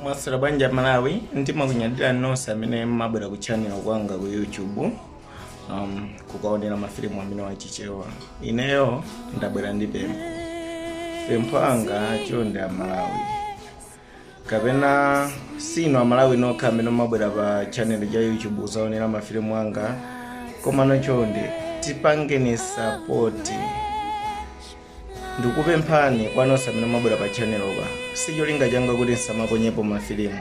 mwaswera bwanji amalawi ndimakunyadira nonse amene mmabwera ku channel kwanga ku youtube um, kukaonera mafilimu amenewa achichewa ineyo ndabwera ndi pempho pempho langa chonde amalawi kapena sinu amalawi nokha amene mmabwera pa channel cha youtube kuzaonera mafilimu anga komano chonde tipangeni sapoti ndikupemphani kwa nonse amene mmabwera pa channelopa si cholinga changa kuti nsamaponyepo mafilimu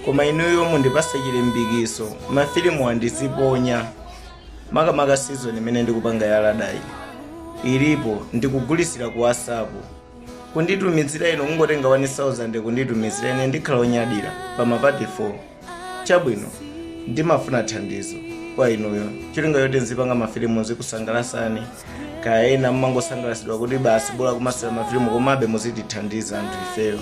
koma inuyo mundipatsa chilimbikiso mafilimuwa ndiziponya makamaka season imene ndikupanga ya ladayi ilipo ndikugulitsira ku whatsapp kunditumizira inu kungotenga 1000 kunditumizira ine ndikhala onyadira pa mapati 4 Chabwino, ndimafuna thandizo kwa inuyo. Cholinga choti nzipanga mafilimu nzikusangalatsani. Kaya ena mumangosangalatsidwa kuti basi bola kumasulira mafilimu komabe muzitithandiza anthu ifeyo.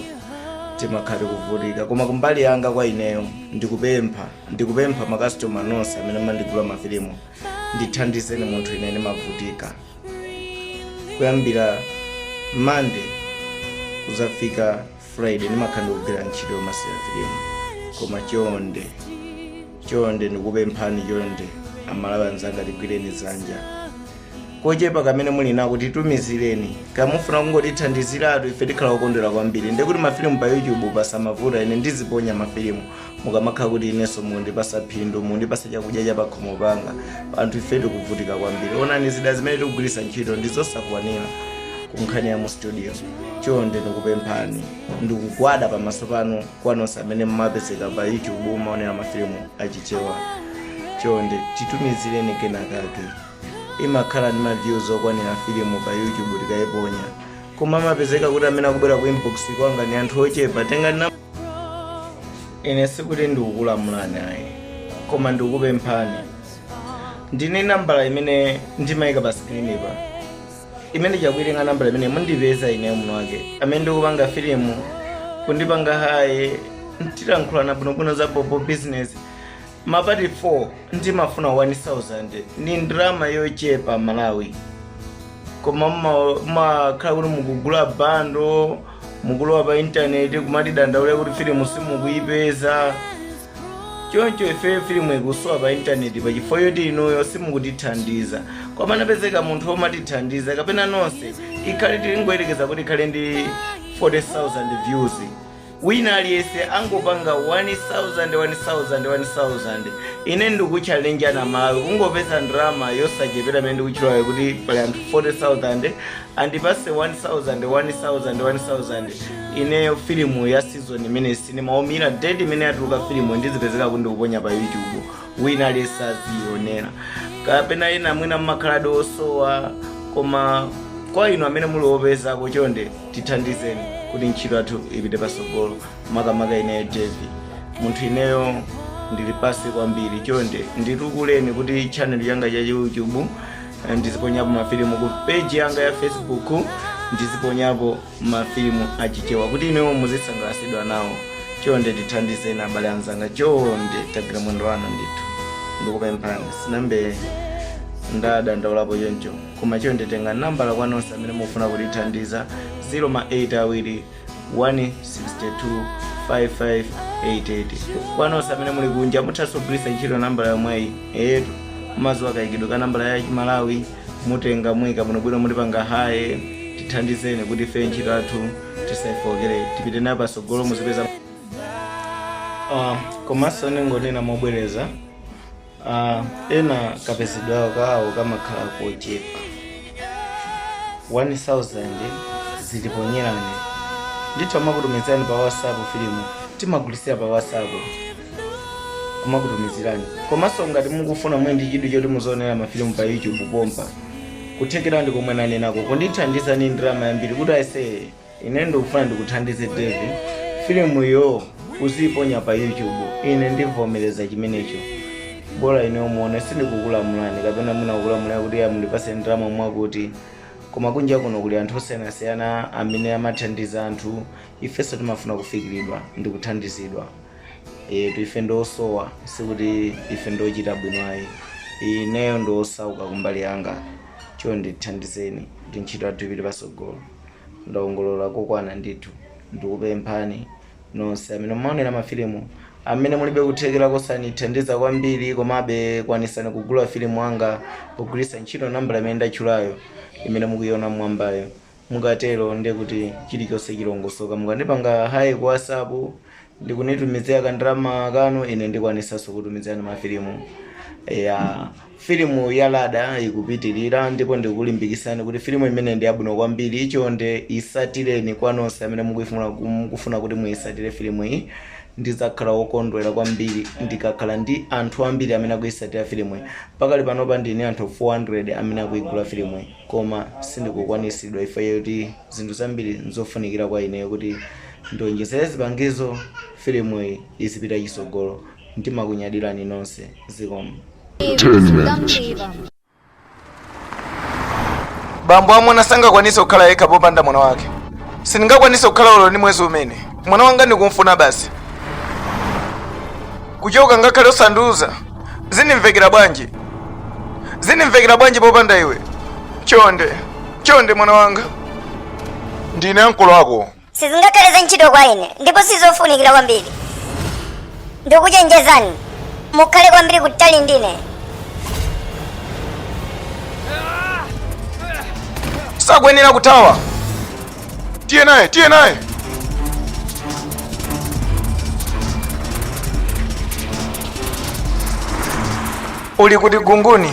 timakhala tikuvutika koma kumbali yanga kwa ineyo ndikupempha ndikupempha makasitoma nonse amene mmandigula mafilimu ndithandizeni munthu ine ndimavutika kuyambira mande kudzafika friday ndimakhala ndikugwira ntchito yomasulira filimu koma chonde chonde ndikupemphani chonde amalawi anzanga tigwireni dzanja kochepa kamene muli nako titumizireni ngati mufuna kungotithandiziratu ife tikhala okondwera kwambiri ndikuti mafilimu pa youtube pasamavute ine ndiziponya mafilimu mukamakhala kuti inenso mundipatsa phindu mundipatsa chakudya cha pakhomo panga anthu ife tikuvutika kwambiri onani zida zimene tikugwiritsa ntchito ndi zosakwanira kunkhani ya mu studio chonde ndikupemphani ndikugwada pamaso panu kwa nonse amene mumapezeka pa youtube mumaonera mafilimu achichewa chonde titumizireni kenakake imakhala ndi maviews okwanira filimu pa youtube tikayiponya koma amapezeka kuti amene akubwera ku inbox kwanga ni anthu ochepa tengani na ine sikuti ndikukulamulani ayi koma ndikukupemphani tengani nambala imene ndimayika pa sikilinipa imene mukaitenga nambala imene mundipeza ineyo mwiniwake amene ndikupanga filimu kundipanga hayi ndiye tilankhulana bwinobwino za bobo business Mapati 4 ndimafuna 1000 ndi ndalama yochepa Malawi koma mma- mmakhala kuti mukugula bando mukulowa pa intaneti kumatidandaula kuti filimu simukuyipeza choncho ifeyo filimu ikusowa pa intaneti pa chifukwa choti inuyo simukutithandiza koma anapezeka munthu womatithandiza kapena nonse ikhale tingoyerekeza kuti ikhale ndi 40000 views wina aliyese angopanga 1000 1000 1000 ine ndikuchalenja malo kungopeza ndalama yosachepera imene ndikutchulayo kuti pali anthu 40000 andipatse 1000 1000 1000 ineyo filimu ya season imene sinema omira date imene yatuluka filimu ndizipezeka kuti ndikuponya pa youtube wina aliyese azionera kapena ena mwina mmakhaladi osowa koma kwa inu amene muli opezako chonde tithandizeni kuti ntchito yathu ipite patsogolo makamaka ineyo jevi munthu ineyo ndili pasi kwambiri chonde nditukuleni kuti channel yanga ya youtube eh, ndiziponyapo mafilimu ku page yanga ya facebook ndiziponyapo mafilimu achichewa kuti inuyo muzisangalatsidwa nawo chonde tithandizeni abale anzanga chonde tagwira mwendo wanu ndithu ndikupemphani sinayambe ndadandaulapo choncho koma chonde tengani nambala kwa nonse amene mufuna kutithandiza 0 ma 8 awiri 1625588 kwa nonse amene muli kunja muthanso kugwiritsa ntchito nambala yomweyi eyetu mumadziwa kayikidwe ka nambala ya chimalawi mutenga muika bwinobwino mutipanga hi tithandizeni kuti ife ntchito yathu tisaifookere tipite nayo patsogolo muzipeza Ah, komanso ndingonena mobwereza Ah, ena kapezedwa kawo kamakhala kochepa 1000 ndizikuponyerani ndithu ndimakutumizirani pa whatsapp filimu timagulitsira pa whatsapp kumakutumizirani komanso ngati mukufuna muli ndi chidwi choti muzionera mafilimu pa youtube pompa kuthekera ndi komwe ndanenako kundithandizani ndalama yambiri kuti ayeseye ine ndikufuna ndikuthandize dave filimu iyo uziiponya pa youtube ine ndivomereza chimenecho bola ine umuone sindikukulamulani kapena mwina kukulamulira kuti mundipatse ndalama mwakuti koma kunja kuno kuli anthu osiyanasiyana amene amathandiza anthu ifenso timafuna kufikiridwa ndi kuthandizidwa yetu ife ndiosowa sikuti ife ndiochita bwino ayi ineyo ndiosauka kumbali yanga chonde tithandizeni kuti ntchito yathu ipite patsogolo Ndaongolora kokwana ndithu. Ndikupemphani nonse amene mumaonera ma filimu amene mulibe kuthekera kosanithandiza kwambiri komabe kwanisani kugula filimu anga pogwiritsa ntchito nambala imene ndatchulayo imene mukuiona mmwambayo. Mukatero ndekuti chilichonse chilongosoka. Mukandipanga Hi ku WhatsApp ndikunditumizira ka ndalama kanu ine ndikwanitsanso kutumizirani ma filimu ya filimu ya lada ikupitilira ndipo ndikulimbikisani kuti filimu imeneyi ndi yabwino kwambiri chonde itsatireni kwa nonse amene mukufuna mukufuna kuti muitsatire filimu iyi ndizakhala wokondwera kwambiri ndikakhala ndi anthu ambiri amene akuitsatira filimu iyi pakali panopa ndili ndi anthu 400 amene akuigula filimu iyi koma sindikukwanitsidwa ife yoti zinthu zambiri nzofunikira kwa ineyo kuti Ndionjezere zipangizo filimuyi izipita chitsogolo ndimakunyadilani nonse zikomo. bambo amuna sangakwanise kukhala yekha popanda mwana wake sindingakwanise kukhala olo ndi mwezi umene mwana wanga ndikumfuna basi kuchoka ngakhale osandiuza zindimvekera bwanji zindimvekera bwanji popanda iwe chonde chonde mwana wanga ndine ankolo ako sizingakhale za ntchito kwa ine ndipo sizofunikira kwambiri ndikuchenjezani mukhale kwambiri kutali ndine sakwenera kuthawa tiye naye tiye naye uli kuti kunguni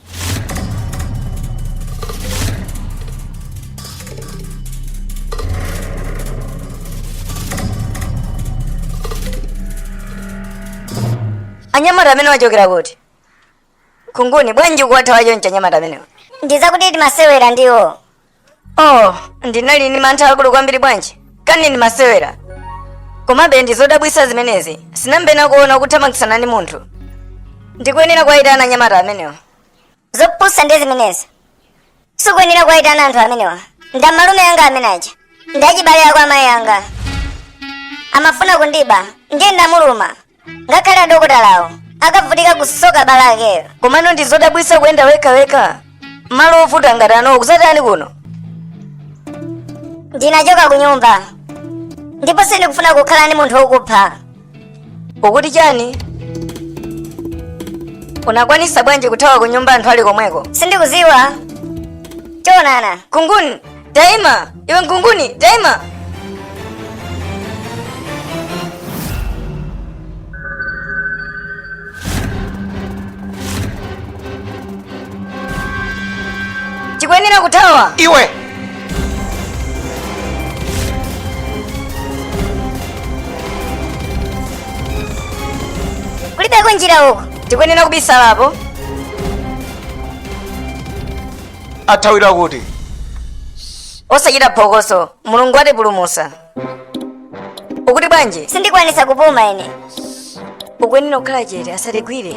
anyamata amenewa achokera kuti kunguni bwanji kuwathawa choncho anyamata amenewa ndizakuti timasewera ndiwo oh ndinali ndi mantha akulu kwambiri bwanji kani ndi masewera komabe ndi zodabwitsa zimenezi sinambe ndakuona ukuthamangitsana ndi munthu ndikuyenera kuwayitana anyamata amenewa zopusa ndiye zimenezi sukuyenera kuwayitana anthu amenewa ndi amalume anga amene aja ndi achibale awo amayi anga amafuna kundiba ndiye ndamuluma ngakhale adokotalawo akavutika kusoka bala lakelo komano ndi zodabwisa kuyenda wekhawekha malo ovuta ngati ano kuzatani kuno ndinachoka ku nyumba ndipo sindikufuna kukhala ndi munthu wokupha ukuti chani unakwanisa bwanji kuthawa ku nyumba anthu ali komweko sindikuziwa choonadi kunguni Daima! Iwe kunguni, daima! Tikuyenera kuthawa! Iwe! Kulibeko njira uko. Tikuyenera kubisalapo. athawira kuti osachita phokoso mulungu atipulumusa ukuti bwanji sindikwanisa kupuma ine ukwenera kukhala chete asatigwire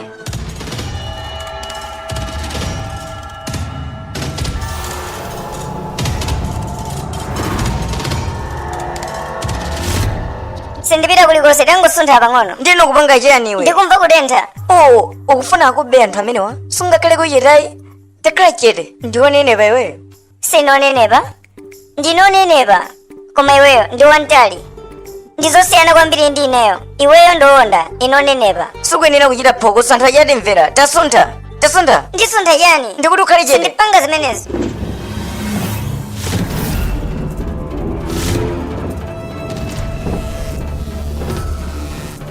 sindipita kulikonse tangosuntha pang'ono ndiye ukupanga chiyani iwe ndikumva kutentha oh ukufuna akube anthu amenewa sungakhale ku cheteyi takhala chete ndiwonenepa iweyo sinonenepa ndinonenepa koma iweyo ndi wantali ndi zosiyana kwambiri ndi ineyo iweyo ndiwonda ine onenepa sukuyenera kuchita phokoso anthu achita kumvera tasuntha tasuntha ndisuntha chani ndikuti ukhale chete ndipanga zimenezo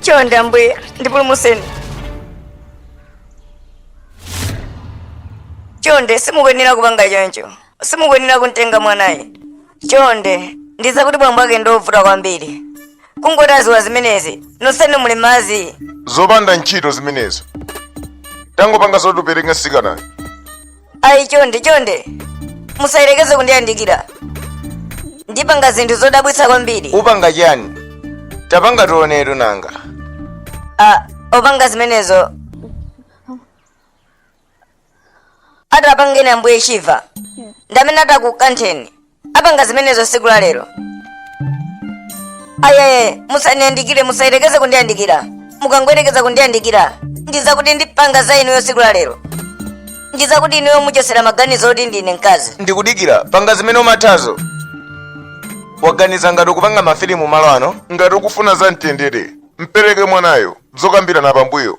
chonde ambuye ndipulumutseni chonde simukuyenera kupanga choncho simukuyenera kumtenga mwanayi chonde ndidzakuti bambo ake ndiovuta kwambiri kungoti adziwa zimenezi nonsenu muli mmadzi zopanda ntchito zimenezo tangopanga zotipereka mtsikanayo ayi chonde chonde musayerekeze kundiyandikira ndipanga zinthu zodabwitsa kwambiri upanga chani tapanga tionetu nanga upanga zimenezo atapangeni ambuye shiva ndamene atakukantheni apanga zimenezo siku la lero ayaye musandiyandikire musayerekeze kundiyandikira mukangoyerekeza kundiyandikira ndizakuti ndipanga za inuyo siku la lero ndizakuti inuyo muchosera maganizo oti ndine mkazi ndikudikira panga zimene umathazo waganiza ngati ukupanga mafilimu malo ano ngati ukufuna za mtendere mpereke mwanayo zokambirana pambuyo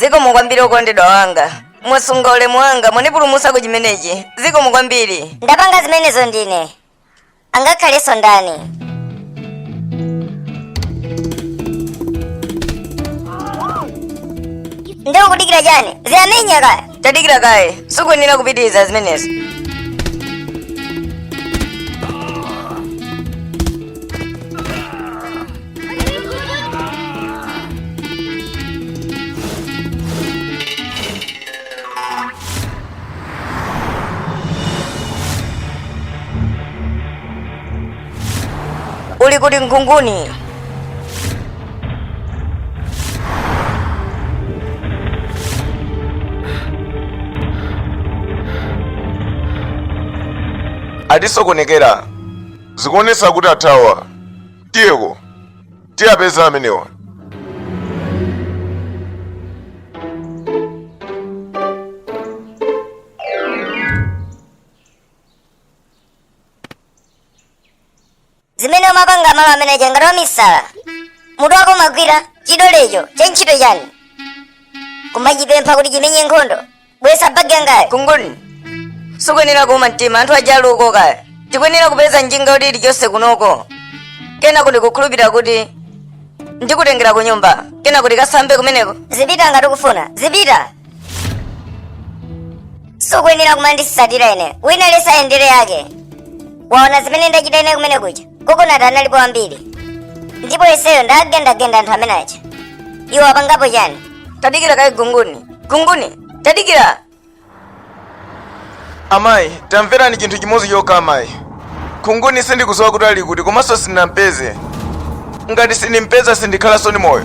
zikomo kwambiri okondedwa wanga mwasunga ulemu wanga mwandipulumusa ku chimenechi zikomo kwambiri ndapanga zimenezo ndine angakhalenso ndani ndikukudikira chani ziyamenya kaya tadikira kaye sukuyenera kupitiriza zimenezo Uli kuti ngunguni? atisokonekera zikuonesa kuti athawa tiyeko tiwapeza amenewa zimene umapanga malo amene aja ngati wamisala mutu wako umagwira chidolecho cha ntchito chani kumachipempha kuti chimenye nkhondo bweza bagi yangayo Khunguni sukuyenera kuuma mtima anthu aja ali uko kaya tikuyenera kupeza njinga kuti ilichonse kunoko kenako ndikukhulupirira kuti ndikutengera ku nyumba kenako tikasambe kumeneko zipita ngati ukufuna zipita sukuyenera kumanditsatira ineyo wina aliyense ayendere yake waona zimene ndachita ine kumene kuja kukanatha analipo ambiri ndipo ineyo ndagendagenda anthu amene aja iwo apangapo chani tadikira kaye Khunguni Khunguni tadikira Amayi, tamverani chinthu chimodzi chokha amayi. Khunguni sindikudziwa kuti ali kuti komanso sindinampeze. Ngati sindimpeza sindikhalanso ndi moyo.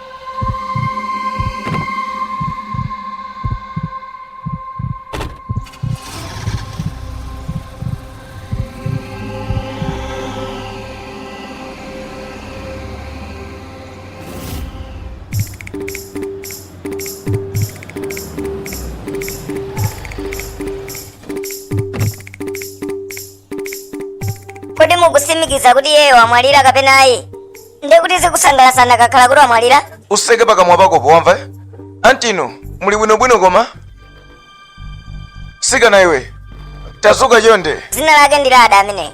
Kodi mukusimikiza kuti iyeyo wamwalira kapena ayi? ndiye kuti zikanasangalatsa anakakhala kuti wamwalira utseke pakamwa pakopo wamva anti inu muli bwinobwino koma mtsikana iwe tadzuka chonde dzina lake ndi lada ameneyi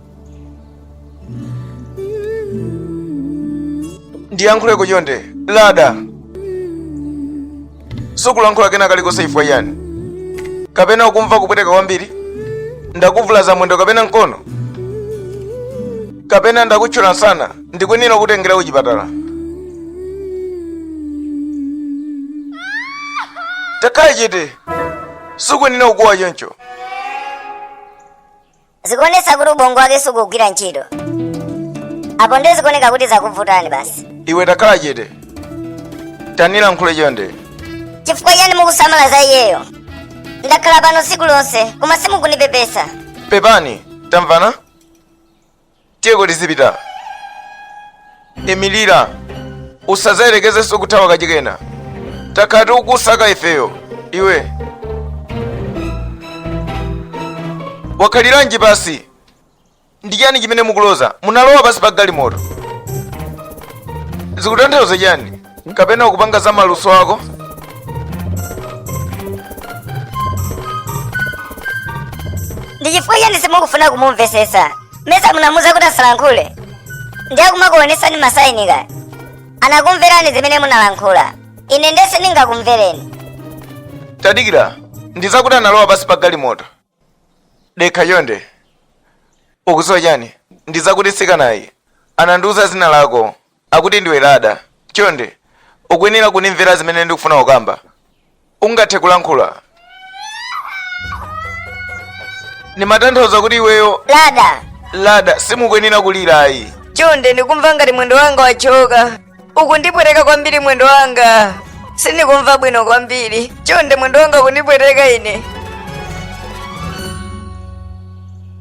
ndiyankhuletu chonde lada sukulankhula kena kalikonse chifukwa chiyani kapena ukumva kupweteka kwambiri ndakuvulaza mwendo kapena mkono kapena ndakuthyola msana ndikuyenera kukutengera kuchipatala takhala chete sukuyenera kukuwa choncho zikuonetsa kuti ubongo wake sukugwira ntchito apo ndiye zikuoneka kuti zakuvutani basi iwe takhala chete tanilankhule chonde chifukwa chiyani mukusamala za iyeyo ndakhala pano tsiku lonse koma simukundipepesa pepani tamvana tiyeko tizipita imilira usazayerekezenso kuthawa kachikenanso takhala tikukusaka ifeyo iwe wakhaliranji pansi ndi chani chimene mukuloza munalowa pansi pa galimoto zikutanthauza chani kapena akupanga za maluso ako ndi chifukwa chani simukufuna kumumvesesa meza munamuuza kuti asalankhule ndiye akumakuonesani masaini ka anakumverani zimene munalankhula ine ndiyese ndingakumvereni tadikira ndiza kuti analowa pansi pa galimoto dekha chonde ukudziwa chani ndiza kuti mtsikanayu anandiuza dzina lako Akuti ndiwe Lada. Chonde, ukuyenera kunimvera zimene ndikufuna kukamba. Ungathe kulankhula. Ndimatanthauza kuti iweyo Lada, Lada simukuyenera kulira ayi. chonde ndikumva ngati mwendo wanga wachoka. Ukundipweteka kwambiri mwendo wanga. Sindikumva bwino kwambiri. Chonde mwendo wanga ukundipweteka ine.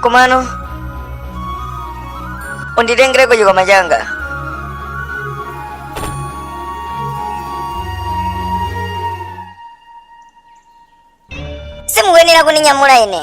komano unditengereko chikwama changa simukuyenera kuninyamula ine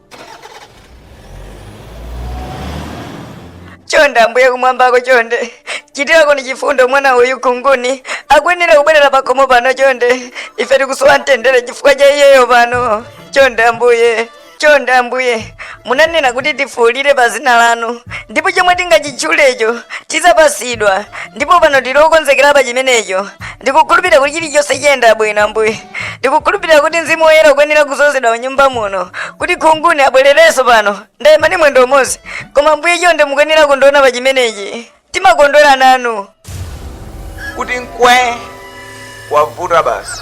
chonde ambuye kumwambako chonde chitirakoni chifundo mwana uyu Nkhunguni akuyenera kubwerera pakhomo pano chonde ife tikusowa mtendere chifukwa cha iyeyo pano chonde ambuye chonde ambuye munanena kuti tifuulire pa dzina lanu ndipo chomwe tingachitchulecho tidzapatsidwa ndipo pano tili okonzekera pa chimenecho ndikukhulupirira kuti chilichonse chiyenda bwino ambuye ndikukhulupirira kuti mzimu woyera ukuyenera kudzozedwa mnyumba muno kuti Nkhunguni abwererenso pano ndayima ndi mwendo umodzi koma ambuye chonde mukuyenera kundiona pa chimenechi timakondwera nanu kuti mukwe kwavuta basi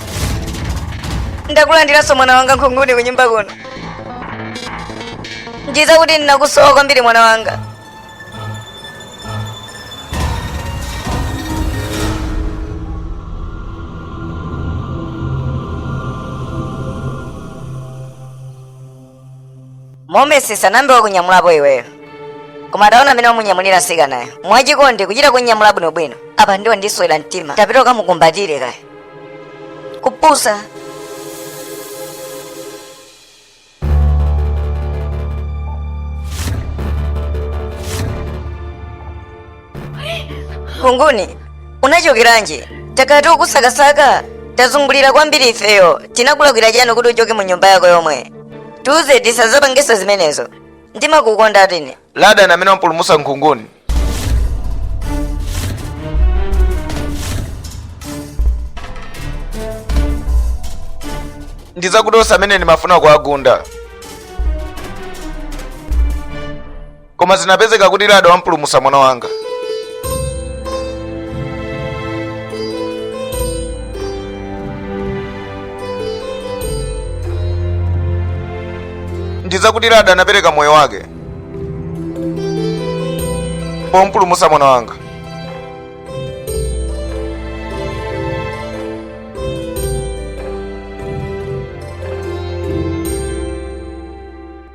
ndakulandiranso mwana wanga Nkhunguni kunyumba kuno ndiza kuti ndinakusowa kwambiri mwana wanga momesi sanayambe wakunyamulapo iweyo koma taona mmene wamunyamulira mtsikanayo mwachikondi kuchita kumunyamula bwinobwino apa ndiye wandiswera mtima tapita ukamukumbatire kaye kupusa Nkhunguni, unachokeranji? Takhala tikukusakasaka, tazungulira kwambiri ifeyo. Tinakulakwira chani kuti uchoke mu nyumba yako yomwe? Tiuze tisazapangenso zimenezo. Ndimakukonda atiine. Lada ndi amene wampulumutsa Nkhunguni. Ndizakuti onse amene ndimafuna kuwagunda. koma zinapezeka kuti lada wampulumusa mwana wanga ndizakuti lada anapereka moyo wake pompulumusa mwana wanga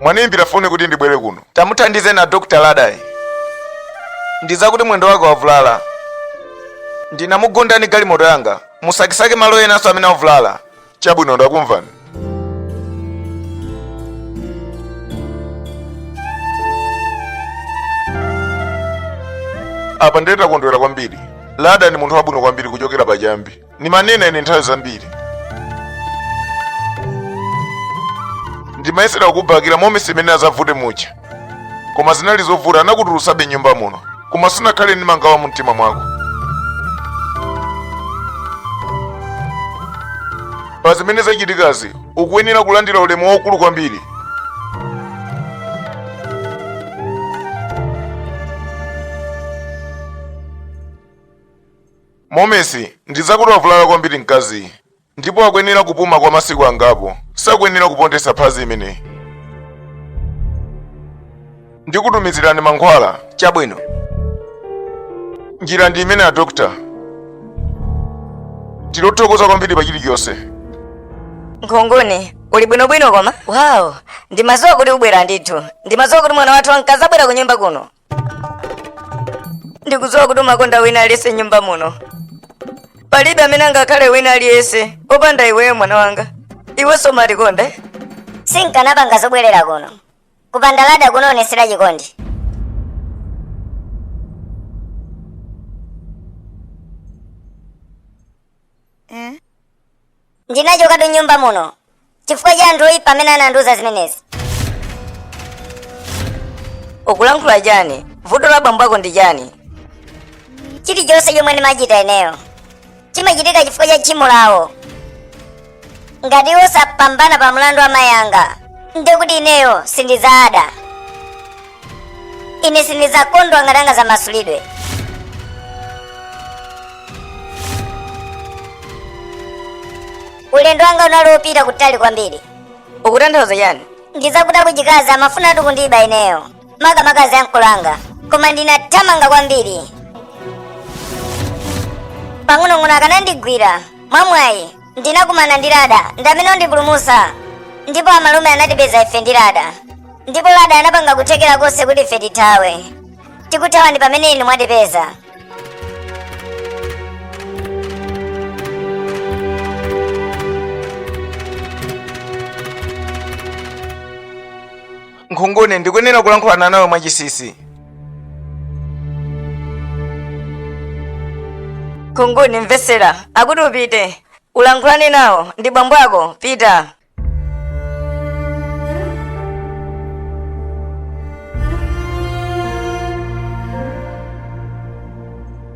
Mwandiimbira foni kuti ndibwere kuno. Tamuthandizeni a Dr. Ladayu. Ndizakuti mwendo wake wavulala. Ndinamugunda ndi galimoto yanga. Musakesake malo enanso amene avulala. Chabwino ndakumvani. Apa ndiye takondwera kwambiri. Lada ndi munthu wabwino kwambiri kuchokera pachiyambi. ndimanena ine nthawi zambiri ndimayesera kukubakira momesi mmene amavutira muja koma zinali zovuta anakutulusabe mnyumba muno koma sunakhale ndi mangawa mu mtima mwako pa zimene zachitikazi ukuyenera kulandira ulemu waukulu kwambiri Momesi, ndizakuti wavulala kwambiri mkaziyu ndipo akuyenera kupuma kwa masiku angapo. Sakuyenera kupondetsa phazi limeneli. Ndikutumizirani mankhwala. Chabwino. Njira ndi imeneyi a dokta. Tikuthokoza kwambiri pa chilichonse. Nkhunguni, uli bwinobwino koma? Wow, ndimadziwa kuti ubwera ndithu. Ndimadziwa kuti mwana wathu ankazabwera ku nyumba kuno. ndikudziwa kuti umakonda wina aliyense mnyumba muno palibe amene angakhale wina aliyense opanda iweyo mwana wanga iwenso umatikonde sinkanapanga zobwerera kuno kupanda lada kundionetsera chikondi Ndinachokatu m'nyumba muno chifukwa cha anthu oyipa amene anandiuza zimenezi. Ukulankhula chani? Vuto la bambo ako ndi chani? Chilichonse chomwe ndimachita ineyo chimachitika chifukwa cha tchimo lawo. Ngati iwo sapambana pa mlandu wa mayi anga, ndiye kuti ineyo sindidzaada. ine sindidzakondwa ngati angadzamasulidwe ulendo wanga unali wopita kutali kwambiri ukutanthauza chani ndidzakutaya kuchikazi amafunatu kundiba ineyo makamaka ziankolo anga koma ndinathamanga kwambiri pang'onong'ono akanandigwira mwamwayi ndinakumana ndi lada ndi amene wandipulumusa ndipo amalume anatipeza ife ndi lada ndipo lada anapanga kuthekera konse kuti ife tithawe tikuthawa ndi pamene inu mwatipeza nkhunguni ndikuyenera kulankhulana nawe mwachisisi nkhunguni mvetsera akuti upite ulankhulane nawo ndi bambo ako pita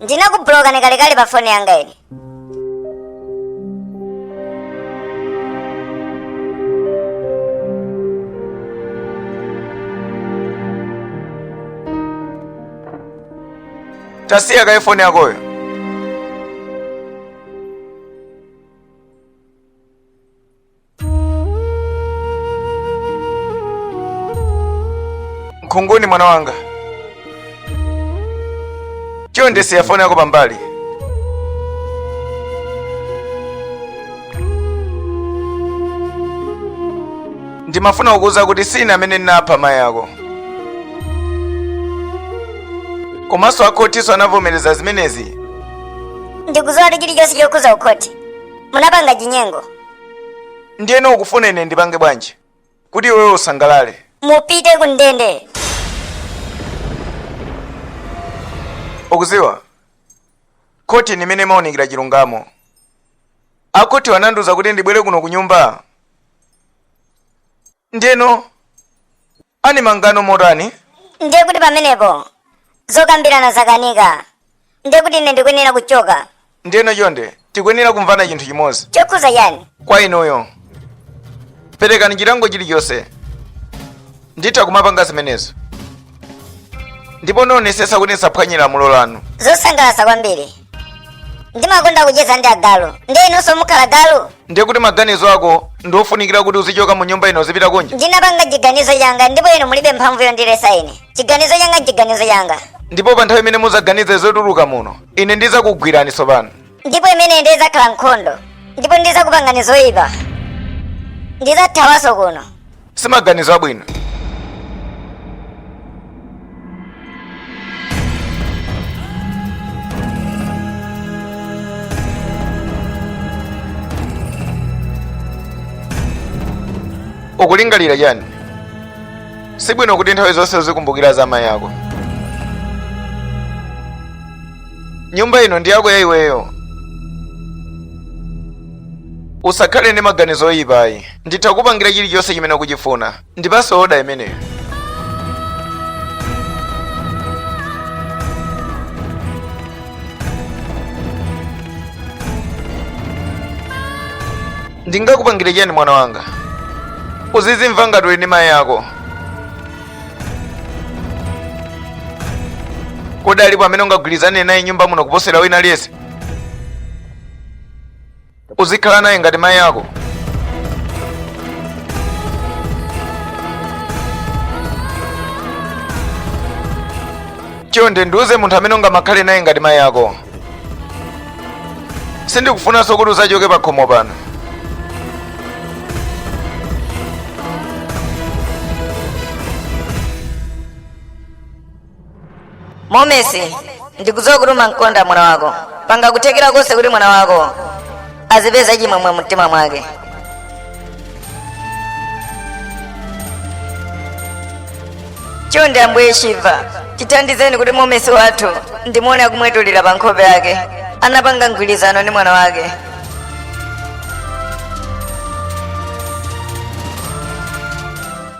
ndinakubulokani kalekale pa foni yanga ine tasiya kaye foni yakoyo nkhunguni mwana wanga chonde siya foni yako pambali ndimafuna kukuuza kuti sine amene ndinapha mayi ako komanso akhotinso anavomereza zimenezi ndikudziwa kuti chilichonse chokhuza kukhoti munapanga chinyengo ndiyeno ukufuna ine ndipange bwanji kuti iweyo usangalale mupite ku ndende ukuziwa khoti ndi imene imaunikira chilungamo akhoti anandiuza kuti ndibwere kuno ku nyumba ndiyeno Ani mangano motani? Ndiye kuti pamenepo zokambirana zakanika. Ndiye kuti ine ndikuyenera kuchoka. Ndiyeno chonde, tikuyenera kumvana chinthu chimodzi. Chokhuza chani? Kwa inuyo. Perekani chilango chilichonse. Nditha kumapanga zimenezi. Ndipo ndionesesa kuti ndisaphwanye lamulo lanu. Zosangalatsa kwambiri. ndimakonda kucheza ndi agalu ndiye inunso mukhala galu ndiye kuti maganizo ako ndi ofunikira kuti uzichoka mu nyumba ino uzipita kunja ndinapanga chiganizo changa ndipo inu mulibe mphamvu yondilesa ine chiganizo changa nchiganizo changa ndipo pa nthawi imene muzaganize zotuluka muno ine ndizakugwirani tsopano ndipo imeneyo izakhala nkhondo ndipo ndizakupangani zoyipa ndizathawanso kuno simaganizo abwino ukulingalira chani sibwino kuti nthawi zonse uzikumbukira za amayi ako nyumba ino ndi yako ya iweyo usakhale ndi maganizo oyipa ayi nditha kupangira chilichonse chimene ukuchifuna ndipanso oda imeneyo ndingakupangire chani mwana wanga uzizimva ngati uli ndi mayi ako kodi alipo amene ungagwirizane naye mnyumba muno kuposera wina aliyense uzikhala naye ngati mayi ako chonde ndiuze munthu amene ungamakhale naye ngati mayi ako sindikufunanso kuti uzachoke pa khomo pano momesi ndikudziwa kuti umamkonda mwana wako panga kuthekera konse kuti mwana wako azipeza chimwemwe mumtima mwake chonde ambuye shiva tithandizeni kuti momesi wathu ndimuone akumwetulira pa nkhope yake anapanga mgwirizano ndi mwana wake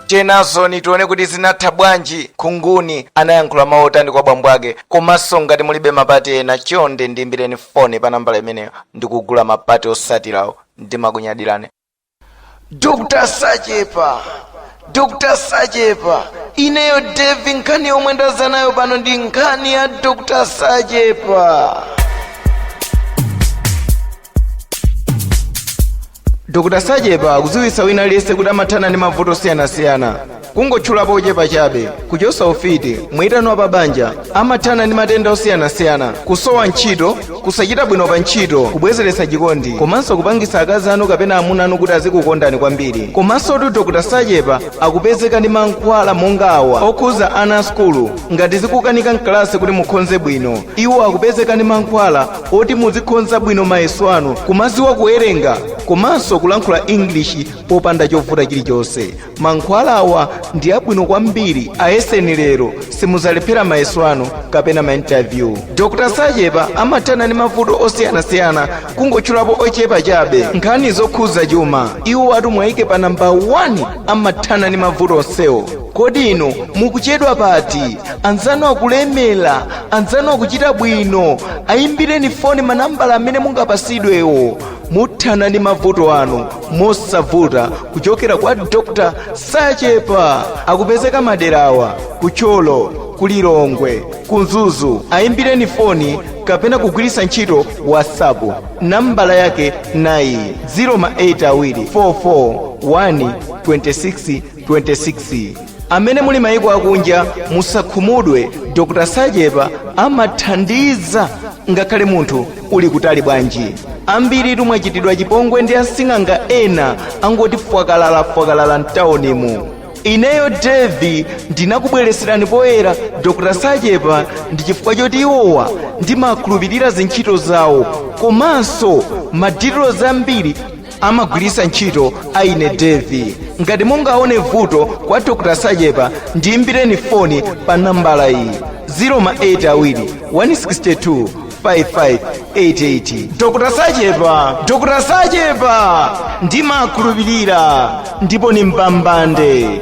tiyenazoni tione kuti zinatha bwanji khunguni anayankhula mawu otani kwa bambo ake komanso ngati mulibe mapati ena chonde ndiimbireni foni pa nambala imeneyo ndi kugula mapati osatirawo ndimakunyadirani dr sachepa dr sachepa ineyo devi nkhani yomwe ndaza nayo pano ndi nkhani ya dr sachepa dr sachepa akudziwitsa wina aliyense kuti amathana ndi mavuto osiyanasiyana kungotchulapo ochepa chabe kuchotsa ufiti mwitano wa pabanja amathana ndi matenda osiyanasiyana kusowa ntchito kusachita bwino pa ntchito kubwezeretsa chikondi komanso kupangitsa akazi anu kapena amuna anu kuti azikukondani kwambiri komansotu dr sachepa akupezeka ndi mankhwala monga awa okhuza ana a sukulu ngati zikukanika mkalasi kuti mukhonze bwino iwo akupezeka ndi mankhwala oti muzikhonza bwino mayeso anu kumaziwa kuwerenga komanso kulankhula english popanda chovuta chilichonse mankhwala awa ndi abwino kwambiri ayeseni lero simuzalephera mayeso anu kapena mainterview dr sachepa amathana ndi mavuto osiyanasiyana kungotchulapo ochepa chabe nkhani zokhuza chuma iwo ati mwayike pa namba 1 amathana ndi mavuto onsewo kodi inu mukuchedwa pati anzanu akulemera anzanu akuchita bwino ayimbireni foni manambala amene mungapasidwewo muthana ndi mavuto anu mosavuta kuchokera kwa dr sachepa akupezeka maderawa ku thyolo ku lilongwe ku mzuzu ayimbireni foni kapena kugwiritsa ntchito whatsapp nambala yake nayi 0 ma 8 awiri 44 1 26 26 amene muli mayiko akunja musakhumudwe dr sachepa amathandiza ngakhale munthu uli kutali bwanji ambiritu mwachitidwa chipongwe ndi asing'anga ena angoti fwakalalafwakalala mtawunimu ineyo devi ndinakubwereserani poyera dr sachepa ndi chifukwa choti iwowa ndimakhulupirira zintchito zawo komanso madetails ambiri amagwiritsa ntchito a ine devi ngati mungaone vuto kwa dr sachepa ndiyimbireni foni pa nambala iyi 0 ma 8 awiri 162 5588 dr sachepa dr sachepa ndimakhulupirira ndipo ni mbambande